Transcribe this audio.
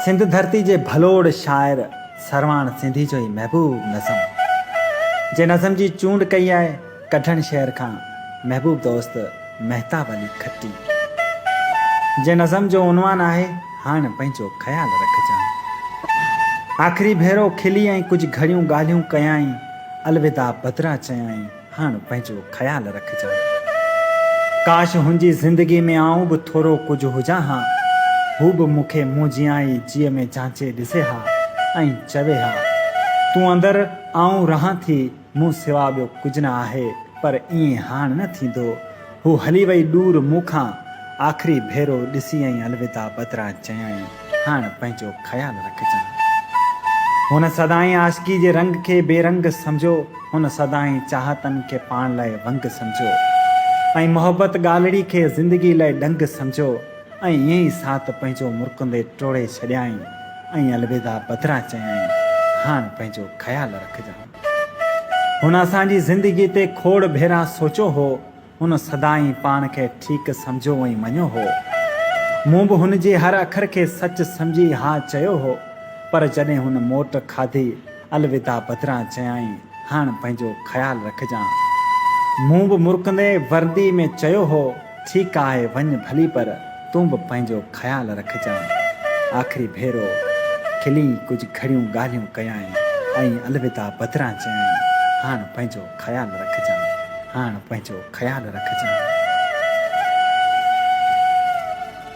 سنڌ ڌرتي جي ڀلوڙ شاعر سرواڻ سنڌي جو ئي محبوب نظم جي نظم جي چونڊ ڪئي آهي ڪڍڻ شهر کان محبوب دوست مهتاب علي کٽي جي نظم جو عنوان آهي هاڻ پنهنجو خيال رکجان آخري ڀيرو کلي ۽ ڪجهه گهڙيون ڳالهيون ڪيائين الوداع بدران چيائين هاڻ پنهنجو خيال رکجان. ڪاش هن جي زندگي ۾ آئون به ٿورو ڪجهه هجان ها. هو به مون کي مون جيان ئي جيء ۾ جانچي ڏسي ها ۽ چوي ها، تون اندر آئون رهان ٿي، مون سوا ٻيو ڪجهه نه آهي. پر ائين هاڻ نه ٿيندو. هو هلي وئي ڏور مون کان آخري ڀيرو ڏسيائين الوداع بدران چيائين هاڻ پنهنجو خيال رکجان. هن سدائين عاشقي جي رنگ کي بي رنگ سمجهيو، هن سدائين چاهتن کي پاڻ لاء ونگ سمجهيو ۽ محبت ڳالهڙي کي زندگي لاء ڏنگ سمجهيو ۽ ائين ئي ساٿ پنهنجو مرڪندي ٽوڙي ڇڏيائين ۽ الوداع بدران چيائين هاڻ پنهنجو خيال رکجان. هن اسان جي زندگي تي کوڙ ڀيرا سوچيو هو. هن سدائين پاڻ کي ٺيڪ سمجهيو ۽ مڃيو هو. مون به هن جي هر اکر کي سچ سمجهي ها چيو هو. پر جڏهن هن موٽ کاڌي، الوداع بدران چيائين، هاڻ پنهنجو خيال رکجان. مون به مرڪندي وردي ۾ چيو هو. ٺيڪ آهي وڃ ڀلي پر تون به پنهنجو خيال رکجانء. آخري ڀيرو کلي ڪجهه گهڙيون ڳالهيون ڪيائين ۽ الوداع بدران چيائين، هاڻ پنهنجو خيال رکجانء، هاڻ پنهنجو خيال رکجانء.